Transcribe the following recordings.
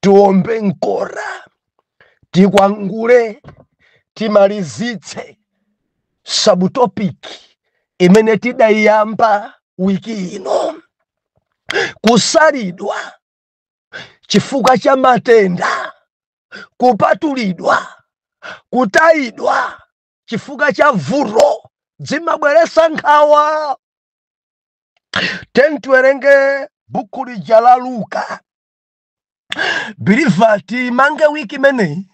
tiombe mkota tikwangule timalizitse subtopic imene tidayiyamba wiki ino kusalidwa chifukwa cha matenda kupatulidwa kutayidwa chifukwa cha vuto zimabweretsa nkhawa tiyeni tiwerenge buku lija la luka biliva timange wiki imeneyi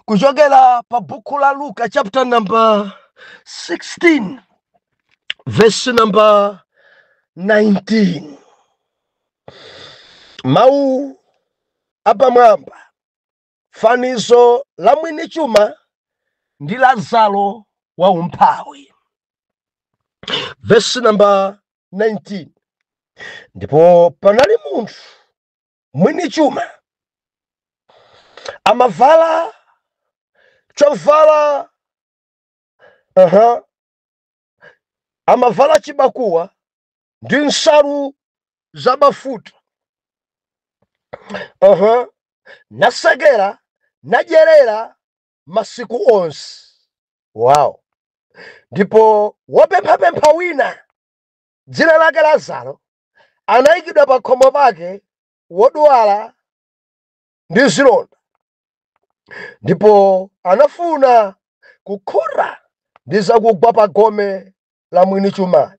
kuchokera pa buku la luka chapter number 16 verse number 19 mawu apamwamba Fanizo la mwini chuma ndi Lazaro wa umphawi. Vesi namba 19 ndipo panali munthu mwini chuma amavala chovala aha amavala chibakuwa ndi nsalu za bafuta uh-huh. nasekera nadyerera masiku onse wow ndipo wopemphapempha wina dzina lake lazaro anayikidwa pa khomo pake wodzala ndi zilonda ndipo anafuna kukhuta ndi zakugwa pa gome la mwini chumayo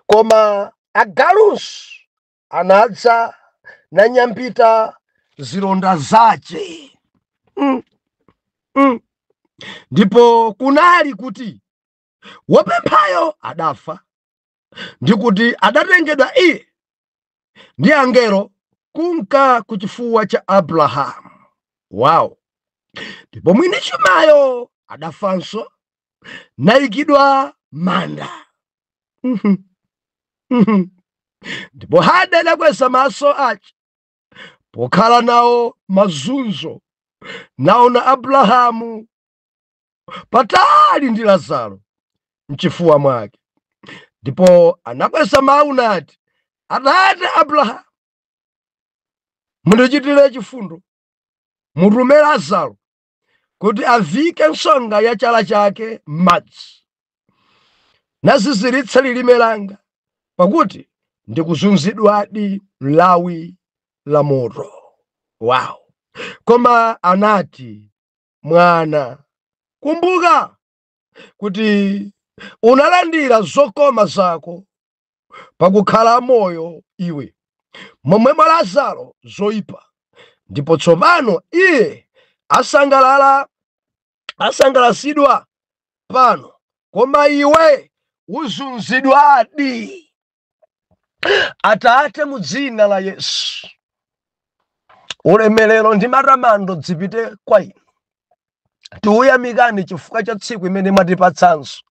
koma agalunso anadza nanyambita zilonda zace mm, mm. ndipo kunali kuti wopemphayo adafa ndi kuti adatengedwa iye ndi angelo kunka ku chifuwa cha abrahamu wow ndipo mwini chumayo adafanso nayikidwa m'manda Mhm. Mhm. ndipo m'hade adakweza maso ace pokhala nawo mazunzo naona abrahamu patali ndi Lazaro mchifuwa mwake, ndipo anakweza mawu nati, Atate Abrahamu, mundichitire chifundo, mutume Lazaro kuti avike nsonga ya chala chake m'madzi naziziritse lilime langa, pakuti ndikuzunzidwadi m'lawi la moto. Wow! Koma anati mwana. Kumbuka kuti unalandira zokoma zako pakukhala moyo iwe, momwemo Lazaro zoipa, ndipo tsopano iye asangalala asangalasidwa pano, koma iwe uzunzidwadi. Atate, mu dzina la Yesu, ulemerero ndi matamando dzipite kwa inu. Tikuyamikani chifukwa cha tsiku imene mwatipatsanso,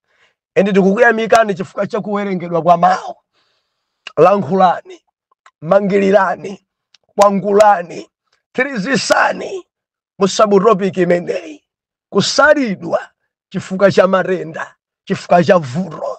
ende tikukuyamikani chifukwa cha kuwerengedwa kwa mawu. Lankhulani, mangilirani, kwangulani, thirizisani mu sabutopiki imeneyi, kusalidwa chifukwa cha matenda, chifukwa cha vuto.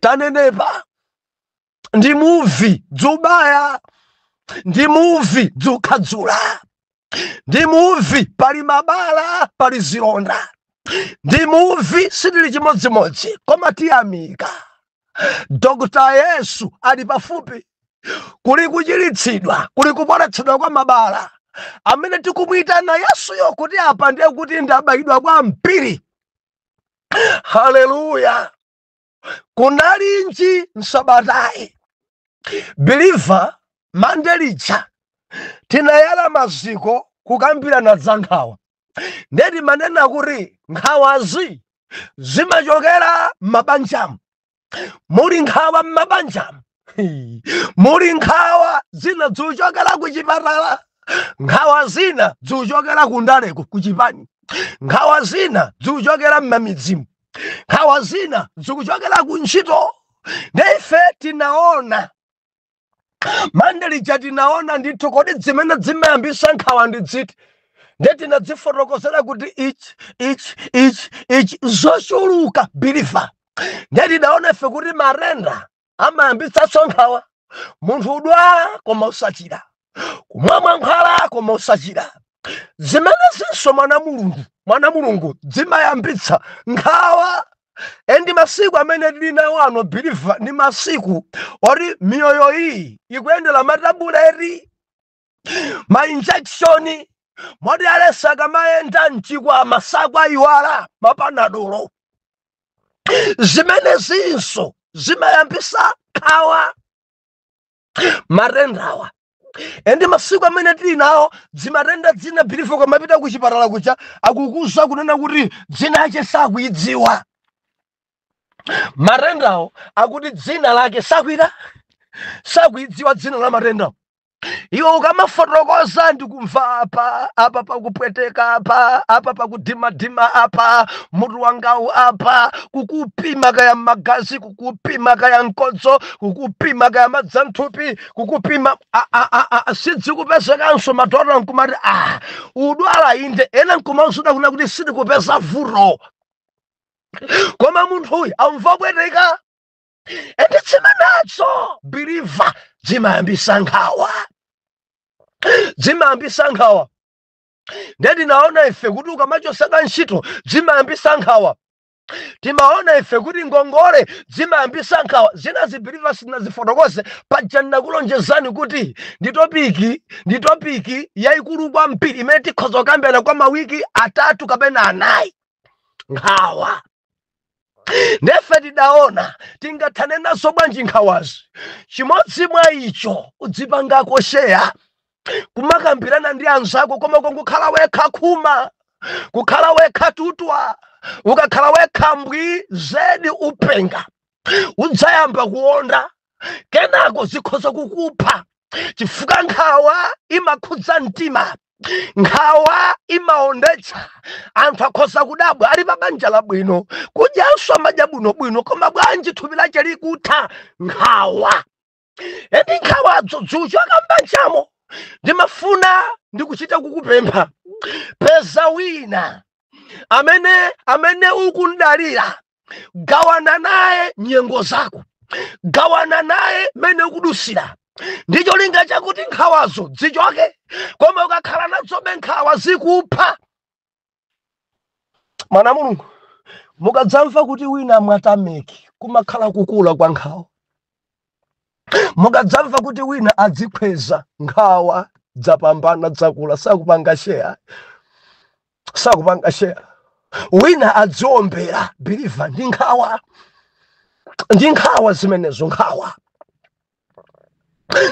tanenepa ndi muvi dzubaya ndi muvi dzukhadzula ndi muvi pali mabala pali zilonda ndi muvi sitili chimodzimodzi koma tiyamika dokota yesu ali pafupi kuli kuchiritsidwa kuli kupoletsedwa kwa mabala amene tikumuyitana yesuyo kuti apa ndiye kuti ndabayidwa kwambiri haleluya kunali nji m'sabatayi biliva mande lija tinayala maziko kukambirana za nkhawa nde timanena kuti nkhawazi zimachokera m'mabanjamu muli nkhawa m'mabanjamu muli nkhawa zina zikuchokera ku chipatala nkhawa zina zikuchokera ku ndaleko ku chipani nkhawa zina zikuchokera m'mamidzimu nkhawa zina zikuchokera ku ntchito nde ife tinaona mande lija tinaona ndithu kodi dzimene dzimayambisa nkhawa ndi dziti nde tinadzifotokozera kuti ichi ichi ichi ichi zochuluka biliva nde tidaona ife kuti matenda amayambitsanso nkhawa munthu kudwala koma osachira kumwa mankhwala koma osachira zimenezinso mwana mulungu mwana mulungu dzimayambitsa nkhawa endi masiku amene tili nawo ano biliva ndi masiku oti miyoyo iyi ikuyendera matabuleti ma injection moti aliyense akamayenda mchikwama sakwayiwala mapanadolo zimenezinso zimayambisa nkhawa matendawa ende masiku amene tili nawo dzimatenda dzina believer ukamapita ku chipatala kuja akukuuza kunena kuti dzina lache sakuidziwa matendawo akuti dzina lake sakuita sakuidziwa dzina la matendawo iwe ukamafotokoza ndikumva apa apa pakupweteka apa apa pakudimadima apa mutu wangawu apa kukupima kaya magazi kukupima kaya mkodzo kukupima kaya madzi a mthupi kukupima a- a- a- a- a- sidzikupezekanso madokotala nkumati ah udwala inde ena nkumauzidwa kuna kuti sindikupeza vuto koma munthu uyu amva kupweteka ende dzimenezo believer zimayambisa nkhawa zimayambisa nkhawa nde tinaona ife kuti ukamachotsedwa ntchito zimayambisa nkhawa timaona ife kuti ngongole zimayambisa nkhawa zina believer sindinazifotokoze paja ndinakulonjezani kuti ndi topiki ndi topiki yayikulu kwambiri imene tikhoza kukambirana kwa mawiki atatu kapena anayi nkhawa nde ife tidaona tingathane nazo bwanji nkhawazi chimodzi mwa icho udzipangako share kumakambirana ndi anzako koma kungokhala wekha khuma kukhala wekha tutwa ukakhala wekha mbwi zedi upenga udzayamba kuonda kenako zikhoza kukupha chifukwa nkhawa imakhudza mtima nkhawa imaondetsa anthu akhoza kudabwa ali pa banja labwino kudyanso amadya bwinobwino koma bwanji thupi lache likutha nkhawa ende nkhawadzo dzichoka m'banjamo ndimafuna ndikuchita kukupempha peza wina amene amene ukumdalira gawana naye nyengo zako gawana naye mene ukudutsira ndi cholinga chakuti nkhawazo zichoke koma ukakhala nazobe nkhawa zikupha mwana wa mulungu mukadzamva kuti wina wamwa tameki kumakhala kukula kwa nkhawa mukadzamva kuti wina adzikhweza nkhawa dzapambana dzakula sakupanga share sakupanga share wina adziombera believer ndi nkhawa ndi nkhawa zimenezo nkhawa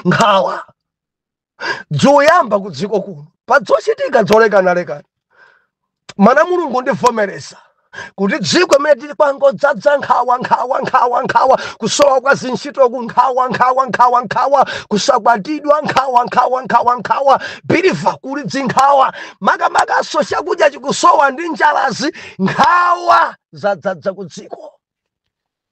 nkhawa dzoyamba ku dziko kuno pa dzochitika dzolekanalekana mwana wa mulungu undivomereza kuti dziko imene tili kwangodzadza nkhawa nkhawa nkhawa nkhawa kusowa kwa zintchito ku nkhawa nkhawa nkhawa nkhawa kusakwatidwa nkhawa nkhawa nkhawa nkhawa believer kuli dzinkhawa makamakanso chakudya chikusowa ndi njalazi nkhawa zadzadza ku dziko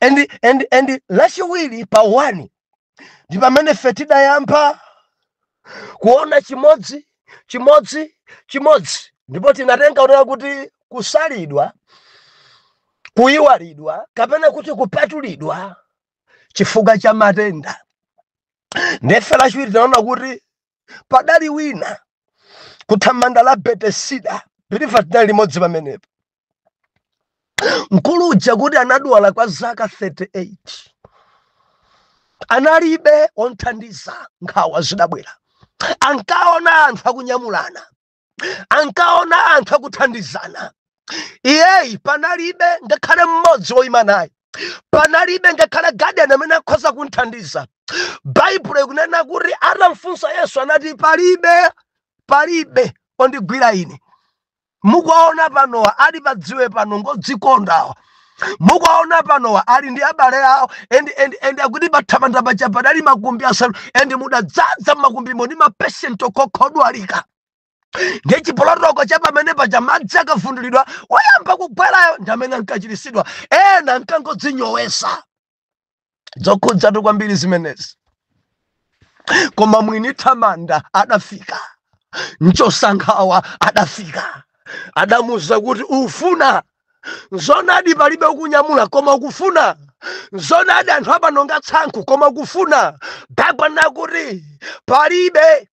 and and and lachiwiri pa 1 ndi pamene ife tidayamba kuona chimodzi chimodzi chimodzi ndipo tinatenga kunena kuti kusalidwa kuyiwalidwa kapena kuti kupatulidwa chifukwa cha matenda ndiye lachiwiri tinaona kuti padali wina kuthamanda la betesida believer tinali limodzi pamenepo mkulu uja kuti anadwala kwa zaka 38 analibe omthandiza nkhawa zidabwera ankaona anthu akunyamulana ankaona anthu akuthandizana iyeyi panalibe ngakhale mmodzi woyima naye panalibe ngakhale guardian amene akhoza kumthandiza baibulo ikunena kuti atamfunsa yesu anati palibe palibe ondigwira ine mukuwaona panowa ali padziwe pano ngodzikonda awa mukuwaona panowa ali ndi abale awo and, and, and akuti pathamanda paja padali makumbi asanu and mudadzadza mmakumbimo ndi mapeshenti okhodwalika ndiye chipolowe cha pamene paja madzi akavundulidwa woyamba kugwerayo ndi amene ankachiritsidwa ena ankangodzinyowesa zokhudzatu kwambiri zimenezi koma mwini thamanda adafika mchotsankhawa adafika adamuuza kuti ufuna zonadi palibe okunyamula koma ukufuna zonadi anthu apano nga tsankho koma ukufuna baibulo nakuti palibe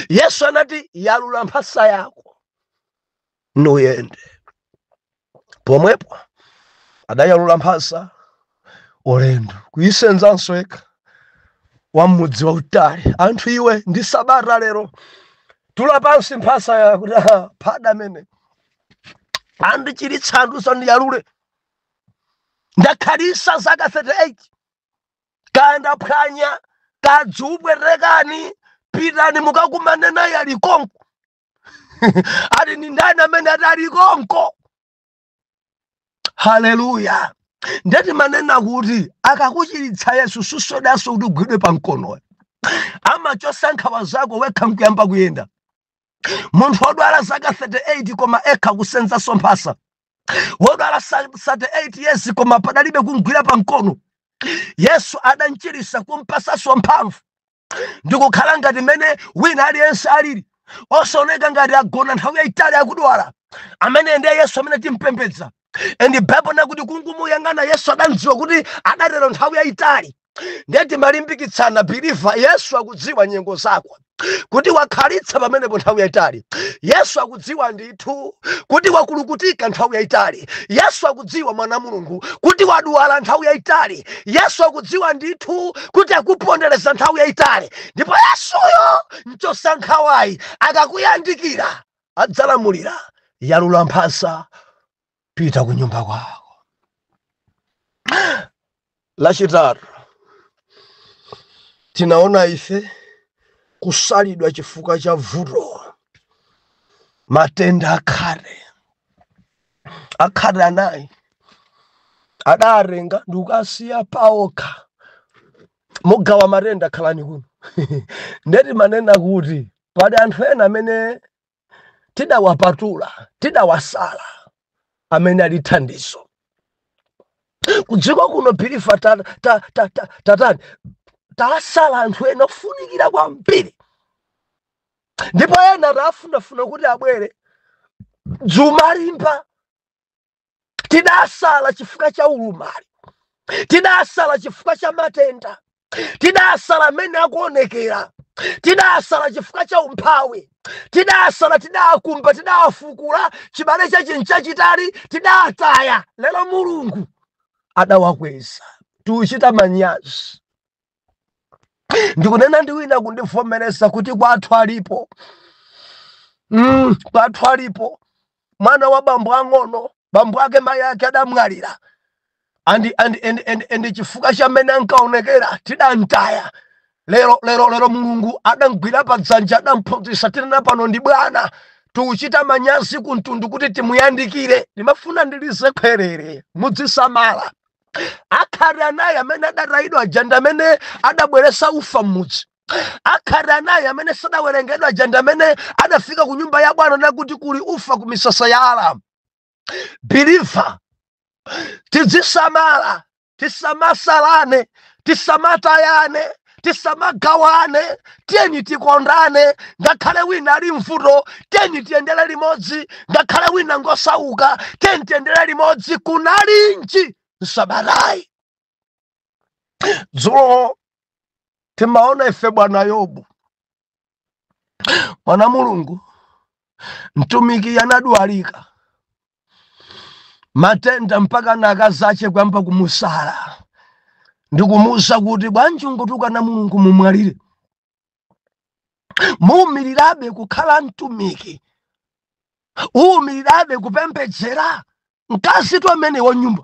yesu anati yalula mphasa yako nuyende pomwepo adayalula mphasa ulendo kuyisenzanso yekha wa mmudzi wautali anthu iwe ndi sabata lero tula pansi mphasayo akuti "Ah, pada amene andichiritsa andiuza ndiyalule ndakhalisa zaka 38 kaya ndaphwanya kadzipwetekeni pitani mukakumane naye ali konko ati ndi ndani amene adali konko haleluya nde timanena kuti akakuchiritsa yesu susowanso kuti ugwidwe pa mkono iye amachosa nkhawa zako wekha nkuyamba kuyenda munthu wodwala zaka 38 koma ekha kusenzaso mphasa wodwala sa- 38 years koma padalibe kumgwira pa mkono yesu adanchirisa kumpasaso mphamvu ndi kukhala ngati mmene wina aliyense alili osaoneka ngati agona nthawi yayitali akudwala ameneyo ndiye yesu amene timpembedza and bible nakuti kungumuyang'ana yesu adamdziwa kuti adatero nthawi yayitali ndiye timalimbikitsana believer yesu akudziwa nyengo zako kuti wakhalitsa pamenepo nthawi yayitali yesu akudziwa ndi ndithu kuti wakulukutika nthawi yayitali yesu akudziwa mwana wa mulungu kuti wadwala nthawi yayitali yesu akudziwa ndithu kuti akupondereza nthawi yayitali ndipo yesuyo mchotsankhawayi akakuyandikira adzalamulira yalula mphasa pita ku nyumba kwako. Lachitatu, tinaona ife kusalidwa chifukwa cha vuto, matenda akhate akhate anayi adawatenga ndikuwasiya paokha mugawa matenda khalani kuno nde timanena kuti pali anthu ena amene tidawapatula tidawasala amene ali thandizo kudziko kuno biliva tatani tasala anthu ena ofunikira kwambiri ndipo ena tafunafuna kuti abwere dzumalimba tidasala chifukwa cha ulumali tidasala chifukwa cha matenda tidasala amene akuonekera tidasala chifukwa cha umphawi tidasala tidakumba tidafukula chibale cha chinthu chachitali tidataya lero mulungu adawakweza tiuchita manyazi ndikunena ndi wina akundivomereza kuti kwathu alipo mm, kwathu alipo mwana wa bambo ang'ono bambo ake mayi ake adamwalira andi chifukwa cha mmene ankaonekera tidamtaya lero lero lero mulungu adamgwira pa dzanja adamphunzitsa tinena pano ndi bwana tikuchita manyazi kumtundu kuti timuyandikire ndimafuna ndilize khwerere mudzisamala akhate anayi amene adatayidwa aja ndi amene adabweretsa ufa m'mudzi akhate anayi amene sadawerengedwa aja ndi amene adafika ku nyumba ya bwana nakuti kuli ufa ku misasa ya aramu biliva tidzisamala tisamasalane tisamatayane tisamagawane tiyeni tikondane ngakhale wina ali mvuto tiyeni tiyendere limodzi ngakhale wina ngosauka tiyeni tiyendere limodzi kunalinji msabatayi dzulo timaona ife bwana yobu mwana mulungu mtumiki anadwalika matenda mpaka na akazache kuyamba kumusala ndikumuuza kuti bwanji ungotukana mulungu mumwalire muumirirabe kukhala mtumiki uumirirabe kupembedzera mkazitu amene wa nyumba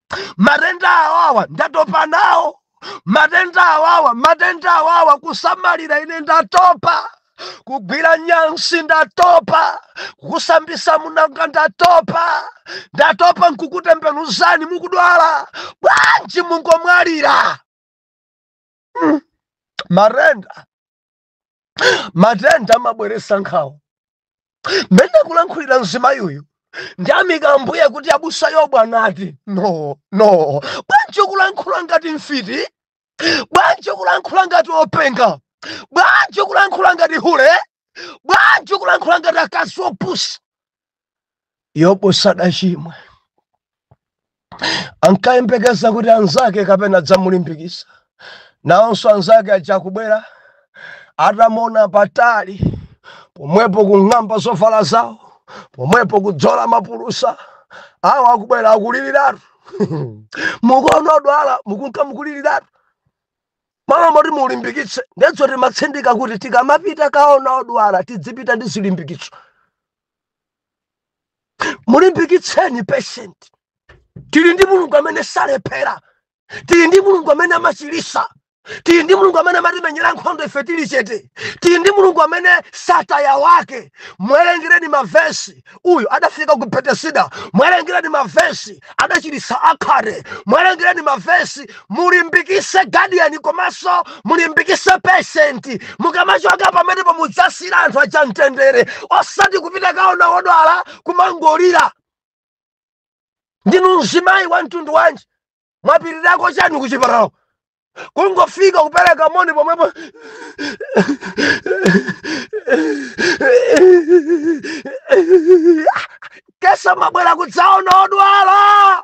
matenda awawa ndatopa nawo matenda awawa matenda awawa kusamalira ine ndatopa kugwira nyansi ndatopa kusambisa amunanga ndatopa ndatopa nkukutembenuzani mukudwala bwanji mungomwalira Mm, matenda matenda amabweresa nkhawa mmene akulankhulira mzimayi uyu ndiyamika ambuye kuti abusa yobu anati no no bwanji ukulankhula ngati mfiti bwanji ukulankhula ngati openga bwanji ukulankhula ngati hule bwanji ukulankhula ngati akazi opusa yobu sadachimwe ankayembekeza kuti anzake kapena adzamulimbikisa nawonso anzake aja akubwera atamuona patali pomwepo kung'amba zovala zawo pomwepo kudzola mapulusa awa akubwera akuliliratu mukuona odwala mukunka mukuliliratu m'malo moti mulimbikitse ndetso timatsindika kuti tikamapita kaona odwala tidzipita ndi zilimbikitso mulimbikitseni patient tili ndi mulungu amene salephera tili ndi mulungu amene amachilisa tili ndi mulungu amene amatimenyera nkhondo ife tili chete tili ndi mulungu amene sataya wake mwerengereni mavesi uyu adafika ku betesida mwerengereni mavesi adachilisa akhate mwerengereni mavesi mulimbikise gadiyani komanso mulimbikise peshenti mukamachoka pamenepo mudzasira anthu aja mtendere osati kupita kaona odwala kumangolira ndinu mzimayi wa mtundu wanji mwapitirako chani kuchipatalako kungofika kupereka moni pomwepo kesa mwabwera kudzaona odwala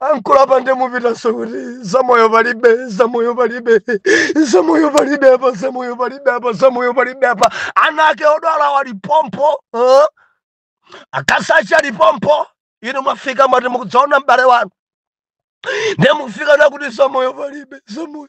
ankula pande mupitanso kuti zamoyo palibe zamoyo palibe zamoyo palibe apa zamoyo palibe apa zamoyo palibe apa ana ake odwalawo ali pompo huh? akazi ache ali pompo inu mwafika mwati mukudzaona m'bale wanu ndiye mukufika nakuti zamoyo palibe zamoyo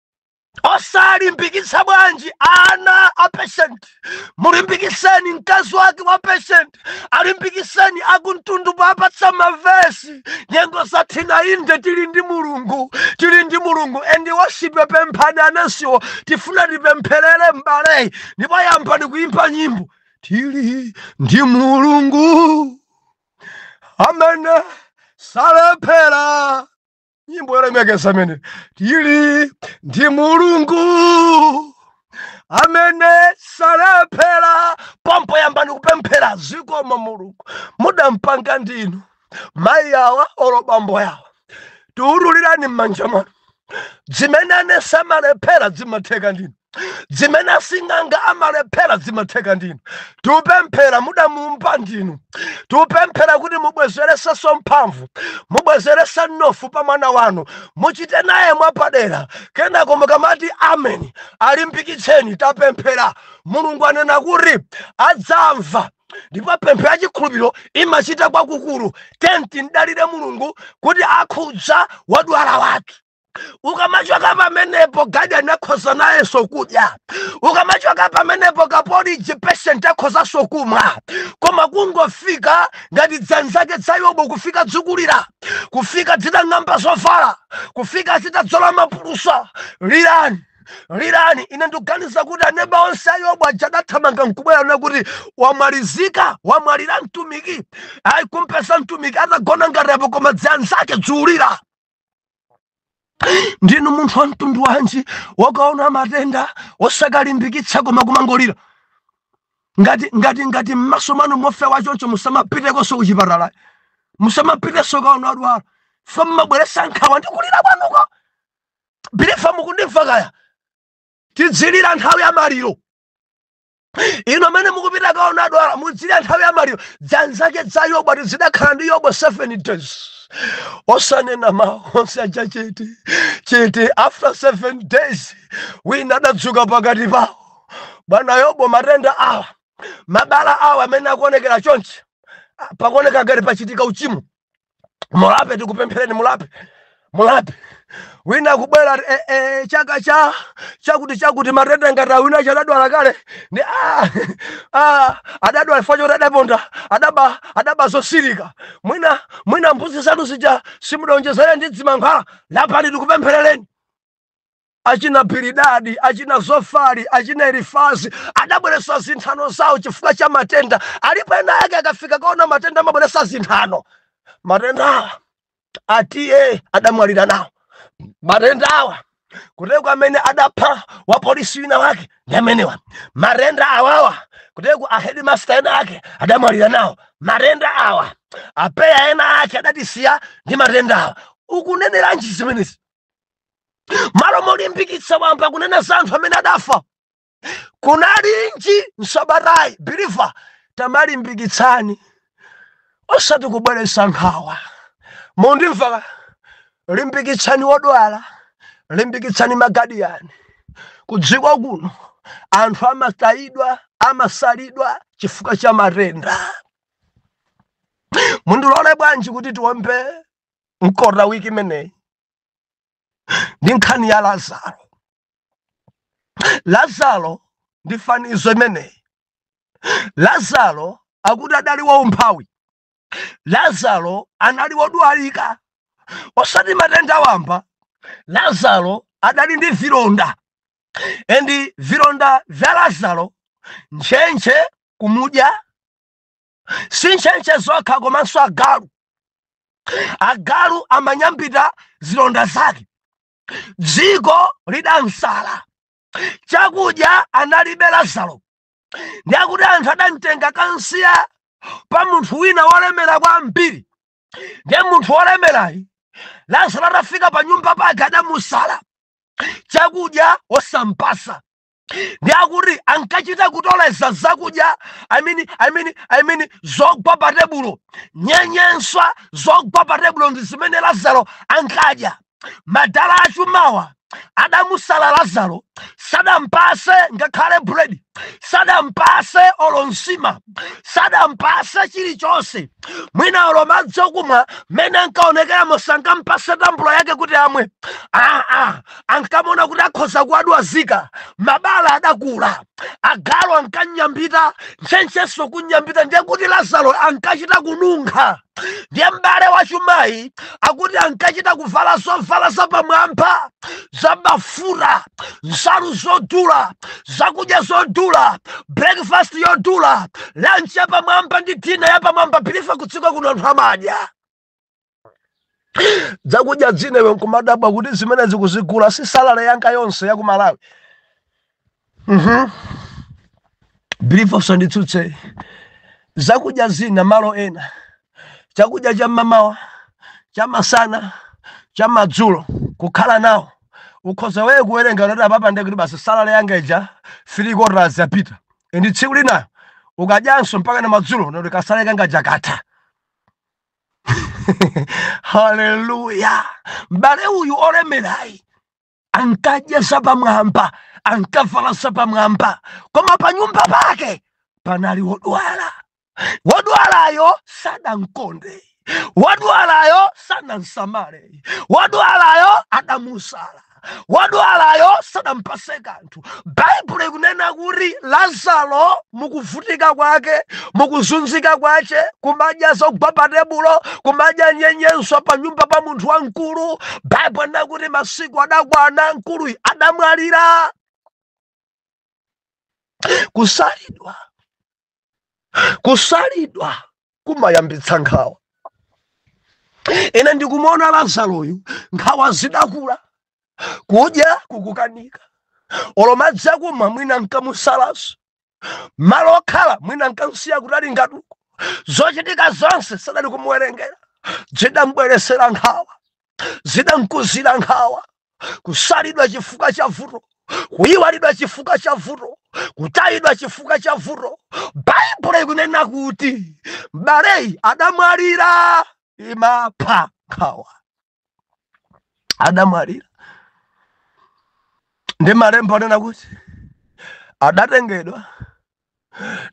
osalimbikitsa bwanji ana a patient mulimbikiseni mkazi wake wa patient alimbikiseni akumtundu powapatsa mavesi nyengo zathina inde tili ndi mulungu tili ndi mulungu endi woshipe pemphani anansiwo tifuna tipempherere m'baleyi ndipo yambani kuimba nyimbo tili ndi mulungu amene salephera nyimbo yolemekeza amene tili ndi mulungu amene salephera pompo yambani kupemphera zikomo mulungu mudampanga ndinu mayi awa olo bambo yawa tikutulirani m'manja mwanu zimene anesi amalephera zimatheka ndinu zimene asing'anga amalephera zimatheka ndinu tikupemphera mudamuumba ndinu tikupemphera kuti mubwezeresenso mphamvu mubwezerese mnofu pa mwana wanu muchite naye mwapadera kenako mukamati ameni alimbikitseni tapemphera mulungu anena kuti adzamva ndipo pemphero ya chikhulupiriro imachita kwakukulu then timdalire mulungu kuti akhudza wodwala wathu ukamachoka pamenepo gadiyani akhoza nayenso kudya ukamachoka pamenepo kapoliji patient akhozanso kumwa koma kungofika ngati dzanzake dza yobu kufika dzikulira kufika dzitang'amba zovala kufika zitadzola maphulusa lirani lirani ine ndikuganiza kuti aneba onse a yobu aja adathamanga nkubwera na kuti wamalizika wamwalira mtumiki ayi kumpeza mtumiki atagona ngati apo koma dzanzake dzikulira ndinu munthu wa mtundu wanji wokaona matenda osakalimbikitsa koma kumangolira ngati ngati ngati mmaso mwanu mofewa choncho musamapitekonso kuchipatala ayi musamapitenso kaona adwala chifukwa mmabweresa nkhawa ndi kulira kwanuko biliva mukundimva kaya tidzilira nthawi ya maliro inu amene mukupita kaona adwala mudzilira nthawi ya maliro dzanzake dza yobu ati zidakhala ndi yobu 7 days osanena mawu onse aja chete chete after 7 days wina adadzuka pakati pawo bwana yobu matenda awa mabala awa amene akuonekera chonchi ah, pakuoneka ngati pachitika uchimo mulape tikupempherereni mulape mulape wina kubwera eh, eh, chaka cha chakuti chakuti matenda ngati awa wina adadwala kale ndi ah, ah, adadwala chifukwa choti adaponda adaba adaba zosirika mwina mwina mbuzi zanu zija simudaonjezere ndi dzimankhwala lapani tikupempherereni achina Bilidadi, achina Zofari, achina Elifazi adabweretsa zinthano zawo chifukwa cha matenda. Alipo ena ake akafika kaona matenda amabweretsa zinthano. Matendawa atiye adamwalira nawo matendawa kuteko amene adapha wapolisi wina wake ndi amenewa matenda awawa kuteko ahedimasta ena ake adamwalira nawo matenda awa apeya ena ake adatisiya ndi matendawa ukuneneranji zimenezi malo molimbikitsa wayamba kunena za anthu amene adafa kunalinji msabatayi biliva tamalimbikitsani osati kubweretsa nkhawa mundimva limbikitsani wodwala limbikitsani magadiyani kudziko kuno anthu amatayidwa amasalidwa chifukwa cha matenda mundilole bwanji kuti tiombe mkota wiki imeneyi ndi nkhani ya lazaro lazaro ndi fanizo imeneyi lazaro akuti adali waumphawi lazaro anali wodwalika osati matenda wamba lazaro adali ndi vilonda and vilonda vya lazaro ntchentche kumudya si ntchentche zokha komanso agalu agalu amanyambita zilonda zake dziko lidamsala chakudya analibe lazaro ndiye akuti anthu adamtenga kansiya pa munthu wina wolemera kwambiri ndiye munthu wolemerayi lazaro atafika pa nyumba pake adamusala chakudya osampasa ndi akuti ankachita kutoleza zakudya I mean, I mean, I mean, zogwa pa tebulo nyenyeswa zogwa pa tebulo ndi zimene lazaro ankadya madala achumawa adamusala lazaro sadampase ngakhale buledi sadampase olo nsima sadampase chilichonse mwina olo madzi okumwa mmene ankaonekeramo sankampase tambula yake kuti amwe aa ankamaona kuti akhoza kuwadwazika mabala adakula agalu ankanyambita ntchentchenso kunyambita ndiye kuti lazaro ankachita kununkha ndiye m'bale wachumayi akuti ankachita kuvala zovala zapamwamba zabafuta nsalu zodula zakudya zodula breakfast yodula lunch yapamwamba ndi dina yapamwamba believer kudziko kuno anthu amadya zakudya zina iwe nkumadabwa kuti zimenezi kuzigula si salale yanga yonse ya ku malawi believer usanditsutse zakudya zina malo ena chakudya cha mamawa cha masana cha madzulo kukhala nawo ukhoza wewe kuwerenga kuti apapa ndekuti basi salale yanga ija three quarters yapita and tsiku lina ukadyanso mpaka na madzulo ndiye kuti kasalale kanga kaja katha haleluya m'bale uyu olemerayi ankadya zapamwamba ankavala zapamwamba koma pa nyumba pake panali wodwala wodwalayo sadamkonde wodwalayo sanamsamale wodwalayo adamusala wodwalayo sadampase kanthu baibulo ikunena kuti lazaro mukuvutika kwake mukuzunzika kwace kumadya zogwa pa tebulo kumadya nyenyeswa pa nyumba pa munthu wamkulu baibulo inena kuti masiku adakwana mkuluyu adamwalira kusalidwa kusalidwa kumayambitsa nkhawa ine ndikumuona lazaroyu nkhawa zidakula kudya kukukanika olo madzi akumwa mwina nkamusalaso malo okhala mwina nkamsiya kutali ngatuko zochitika zonse sadali kumuwerengera zidambweresera nkhawa zidamkuzira nkhawa kusalidwa chifukwa cha vuto kuyiwalidwa chifukwa cha vuto kutayidwa chifukwa cha vuto baibulo ikunena kuti mbaleyi adamwalira imapha nkhawa adamwalira ndi malembo anena kuti adatengedwa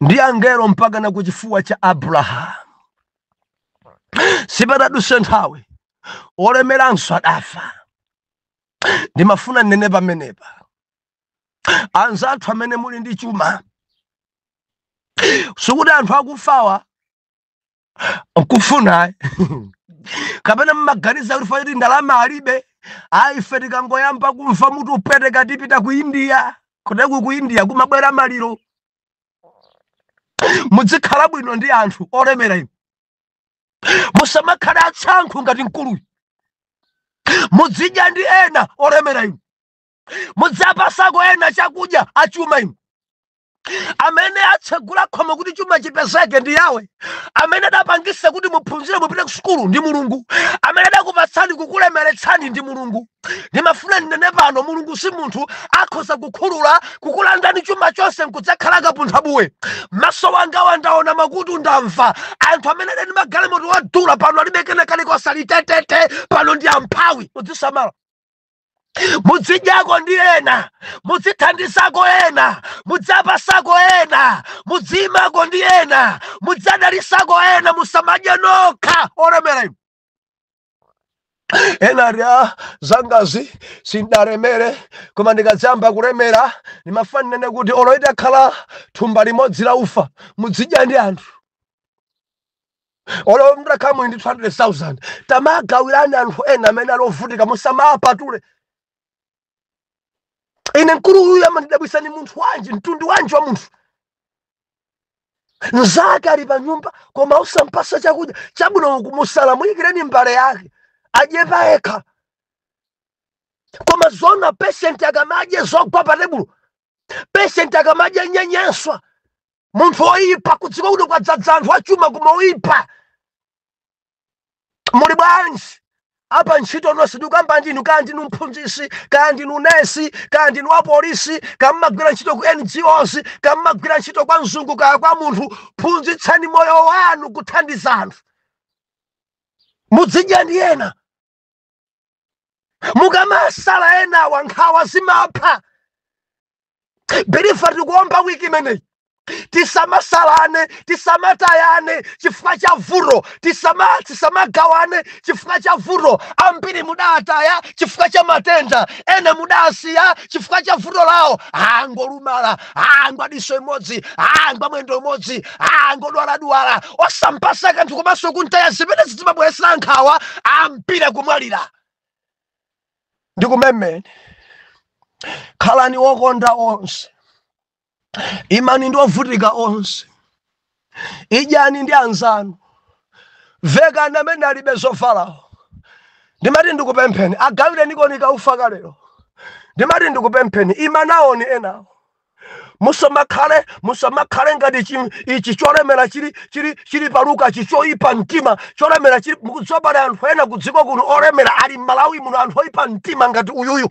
ndi angelo mpakana ku chifuwa cha abrahamu sipadaduse nthawi olemeranso adafa ndimafuna nnene pamenepa anzathu amene muli ndi chuma sikuti anthu akufawa nkufuna kapena mmaganiza kuti ifeyo ti ndalama alibe ayi ife tikangoyamba kumva mutu upweteka tipita ku india kuteko ku india kumabwera maliro mudzikhala bwino ndi anthu olemera inu musamakhale atsankhu ngati mkuluyu mudzidya ndi ena olemera inu mudzapasako ena chakudya achuma inu amene atsegula khomo kuti chuma chipezeke ndi yawe amene adapangisa kuti muphunzire mupite ku sukulu ndi mulungu amene adakupatsani kukulemeretsani ndi mulungu ndimafuna ndinene pano mulungu si munthu akhoza kukhulula kukulandani chuma chonse nkudzakhala kapunthabuwe maso wanga wandaona m'makutu ndamva anthu amene adali ndi magalimoto wadula pano alibe kena kalikonse ali tetete pano ndi amphawi mudzisamala mudzidyako ndi ena mudzithandizako ena mudzapasako ena mudziyimako ndi ena mudzadalisako ena musamadye nokha olemera inu ine za zangazi sindalemere koma ndikadziyamba kulemera ndimafuna ninene kuti olo itakhala thumba limodzi la ufa mudzidya ndi anthu olo mtakhala muli ndi 200000 tamagawirani anthu ena amene ali ovutika musamawapatule ine mkulu uyu amandidabwisa ndi munthu wanji mtundu wanji wa munthu mzake ali pa nyumba koma usampasa chakudya chabwino kumusala muyikireni mbale yake adye pa yekha koma zona patient akamadye zogwa pa tebulo patient akamadye nyenyeswa munthu oyipa kudziko kuno kwadzadza anthu achuma koma oyipa muli bwanji apantchito nonse ndikukamba ndinu kaya ndinu mphunzitsi kaya ndinu nesi kaya ndinu wapolisi kaya mmagwira ntchito ku ngos kaya mmagwira ntchito kwa mzungu kaya kwa munthu phunzitsani moyo wanu kuthandiza anthu mudzidya ndi ena mukamasala enawa nkhawa zimapha believer tikuomba wiki imeneyi tisamasalane tisamatayane chifukwa cha vuto tisama tisamagawane chifukwa cha vuto ambiri mudataya chifukwa cha matenda ena mudasiya chifukwa cha vuto lawo aa ngolumala aa ngwa diso imodzi aa ngwa mwendo umodzi aa ngodwaladwala osampatsa kanthu komanso kuntaya zimene zimabweretsa nkhawa ambiri kumwalira ndi kumemene khalani okonda onse imani ndi ovutika onse idyani ndi anzanu vekani amene alibe zovalawo ndimati ndikupempheni agawirenikoni kaufa ka lero ndimati ndikupempheni imanawoni enawo musamakhale musamakhale ngati chi- ichi cholemera chili chili chili pa Luka chi choipa mtima cholemera chili mukudziwa pali anthu ena kudziko kuno olemera ali m'malawi muno anthu oipa mtima ngati uyuyu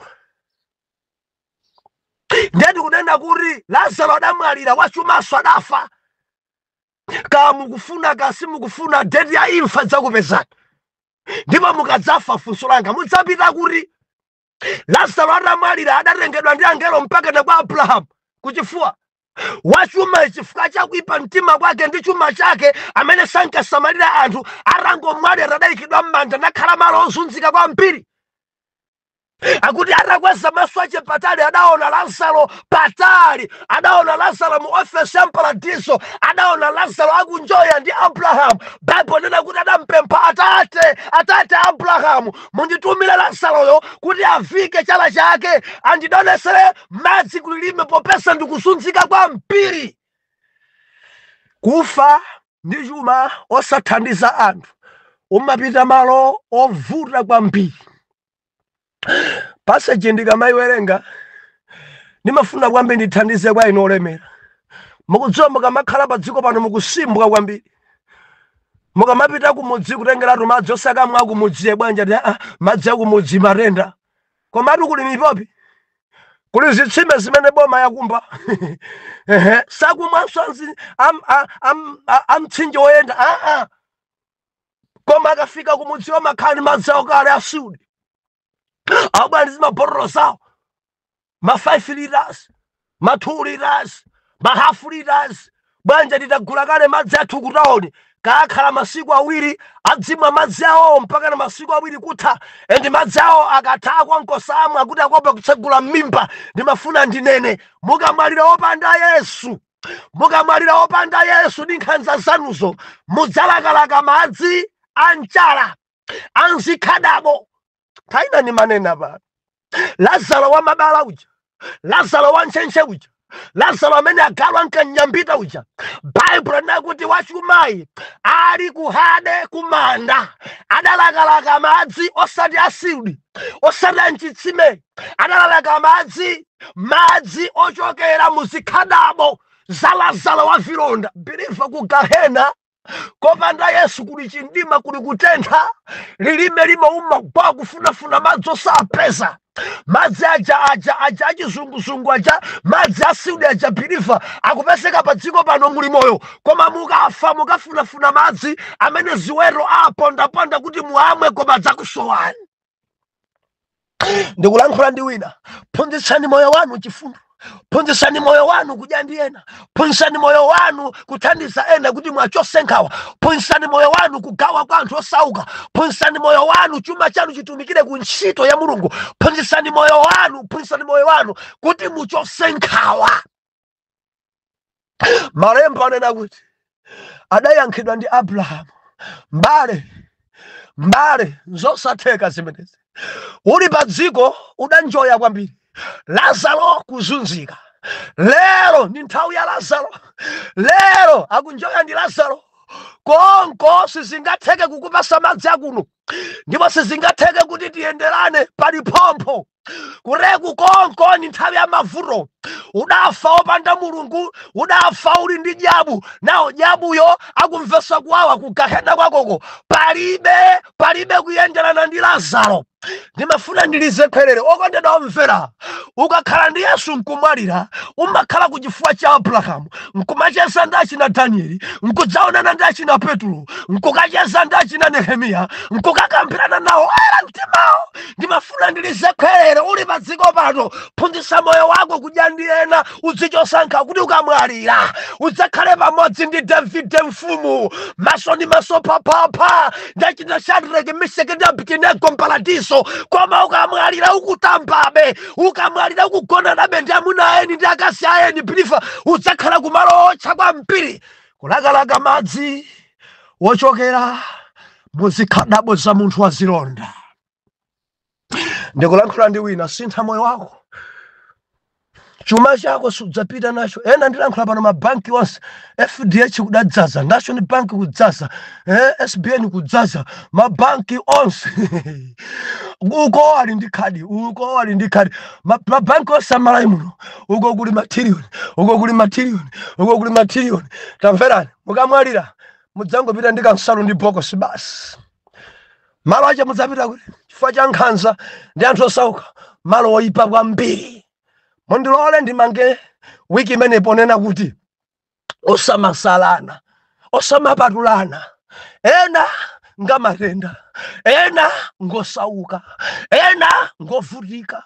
ndiye ndikunena kuti lazaro adamwalira wachumanso adafa kaya mukufuna kaya simukufuna deti ya imfa idzakupezani ndipo mukadzafa funso langa mudzapita kuti lazaro atamwalira adatengedwa ndi angelo mpaka na kwa abrahamu kuchifuwa wachuma chifukwa chakuipa mtima kwake ndi chuma chake amene sankasamalira anthu atangomwalira adayikidwa m'manda nakhala malo ozunzika kwambiri akuti atakweza maso ache patali adaona lazaro patali adaona lazaro mu ofesi ya mparadiso adaona lazaro akunjoya ndi abrahamu baibulo nena kuti adampempha atate atate abrahamu munditumire lazaroyo kuti avike chala chake andidonthezere madzi kulilime popeza ndikuzunzika kwambiri Kufa ndi chuma osathandiza anthu umapita malo ovuta kwambiri. Passage ndikamayiwerenga ndimafuna kwambiri ndithandize kwa inu olemera. Mukudziwa mukamakhala pa dziko pano mukusimbwa kwambiri. Mukamapita kumudzi kutengeratu madzi osakamwa akumudzi ee bwanji ati aa madzi akumudzi matenda komatu kuli mipopi kuli zitsime zimene boma yakumba ehe sakumwanso amzi- am- a- am- a- amtsinje woyenda aa koma akafika kumudzi amakhala ndi madzi awo kale ashudi abwera ndi zimabotolo zawo ma 5 litres, ma 2 litres, ma half litres, bwenzi atatigulira kale madzi athu ku tawoni kukakhala masiku awiri adzimwa madzi awowo mpakana masiku awiri kutha and madzi awo akatha a konko samwa kuti akuopa kutsegula m'mimba ndimafuna ndinene mukamwalira opanda yesu mukamwalira opanda yesu ndi nkhanza zanuzo mudzalakalaka madzi a mchala a mzikhadabo koma ine ndimanena pano lazaro wa mabala uja lazaro wa ntchentche uja lazaro amene agalu ankanyambita uja baibulo linena kuti wachumayi ali kuhade kumanda adalakalaka madzi osati a Siudi osati anchitsime adalalaka madzi madzi ochokera muzikhadabo za lazaro wa zilonda biliva ku gahena kopanda yesu kuli chimdima kuli kutentha lilime limauma kwa kufunafuna madzi osapeza madzi aja aja aja achizunguzungu aja madzi asiudi aja biliva akupezeka pa dziko pano muli moyo koma mukafa mukafunafuna madzi amene ziwero apondaponda kuti muamwe koma adzakusowani ndikulankhula ndi wina phunzitsani moyo wanu chifundo phunzitsani moyo wanu kudya ndi ena phunzitsani moyo wanu kuthandiza ena kuti muwachose nkhawa phunzitsani moyo wanu kugawa kwa anthu osauka phunzitsani moyo wanu chuma chanu chitumikire ku ntchito ya mulungu phunzitsani moyo wanu phunzitsani moyo wanu kuti muchose nkhawa malemba anena kuti adayankhidwa ndi abrahamu mbale mbale nzosatheka zimenezi uli pa dziko udanjoya kwambiri lazaro kuzunzika lero ndi nthawi ya lazaro lero akunjoya ndi lazaro konko sizingatheke kukupasa madzi akuno ndipo sizingatheke kuti tiyenderane pali phompho kureku konko ni nthawi ya mavuto udafa opanda mulungu udafa uli ndi dyabu nawe dyabuyo akumvesa kuwawa kugahena kwakoko palibe palibe kuyenderana ndi lazaro ndimafuna ndilize khwerere okondedwa omvera ukakhala ndi yesu nkumwalira umakhala ku chifuwa cha abrahamu nkumacheza ndi achina danieli nkudzaonana ndi achina petulo nkukacheza ndi achina nehemiya nkukakambirana nawo oyera mtimawo ndimafuna ndilize khwerero uli pa dziko pano phunzitsa moyo wako kudya ndi ena udzichosa nkhawa kuti ukamwalira udzakhale pamodzi ndi davide mfumu maso ndi maso phaphapha nda china shadraki misheki ndi abidinego mparadiso koma ukamwalira ukutambabe ukamwalira ukugonanabe ndi amuna ayeni ndi akazi ayeni biliva udzakhala kumalo otcha kwambiri kulakalaka madzi wochokera mu zikhadabo za munthu wa zilonda ndikulankhula ndi wina sintha moyo wako chuma chako sudzapita nacho ena ndilankhula pano mabanki onse fdh kudadzaza national bank kudzaza eh, sbn kudzaza mabanki onse uko ali ndi khadi uko ali ndi khadi Ma- mabanki onse a Malawi muno uko kuli matiriliyoni uko kuli matiriliyoni uko kuli matiriliyoni tamverani mukamwalira mudzangopita ndi kansalu ndi bokosi basi malo ache mudzapita kuti chifukwa cha nkhanza ndi anthu osauka malo oyipa kwambiri mundilole ndimange wiki imeneyi ponena kuti osamasalana osamapatulana ena ngamatenda ena ngosauka ena ngovutika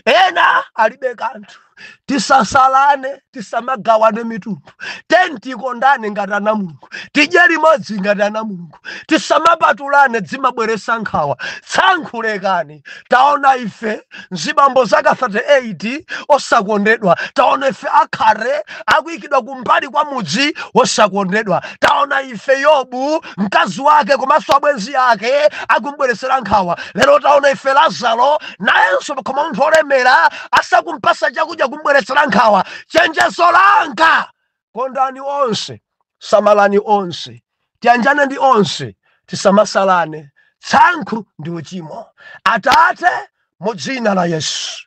ena alibe kanthu tisasalane tisamagawane mitundu tikondane ngati ana mulungu tidye limodzi ngati ana mulungu tisamapatulane dzimabweresa nkhawa tsankhu lekani taona ife za mzibambo wa zaka 38 osakondedwa taona ife akhate akuikidwa kumbali kwa mudzi osakondedwa taona ife yobu mkazi wake komanso abwenzi ake akumbweresera nkhawa lero taona ife lazaro nayenso pakhomo pa munthu olemera asakumpasa chakudya kumbweretsera nkhawa chenjezo langa kondani onse samalani onse tiyanjane ndi onse tisamasalane tsankhu ndi uchimo atate mu dzina la yesu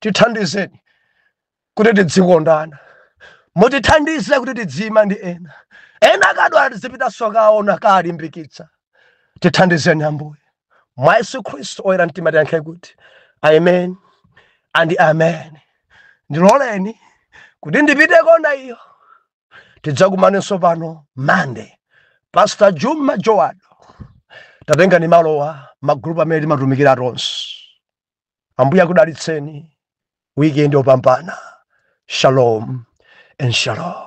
tithandizeni kuti tidzikondana mutithandize kuti tidziyima ndi ena ena akadwala tidzipitanso kaona kalimbikitsa tithandizeni ambuye mwa yesu khristu oyera mtima tiyankhe kuti amen and amen ndiloleni kuti ndipite kona iyo tidzakumanenso pano mande pastor juma joado tatengani malowa magrupu amene timatumikira tonse ambuye akudalitseni wikendi yopambana shalom and shalom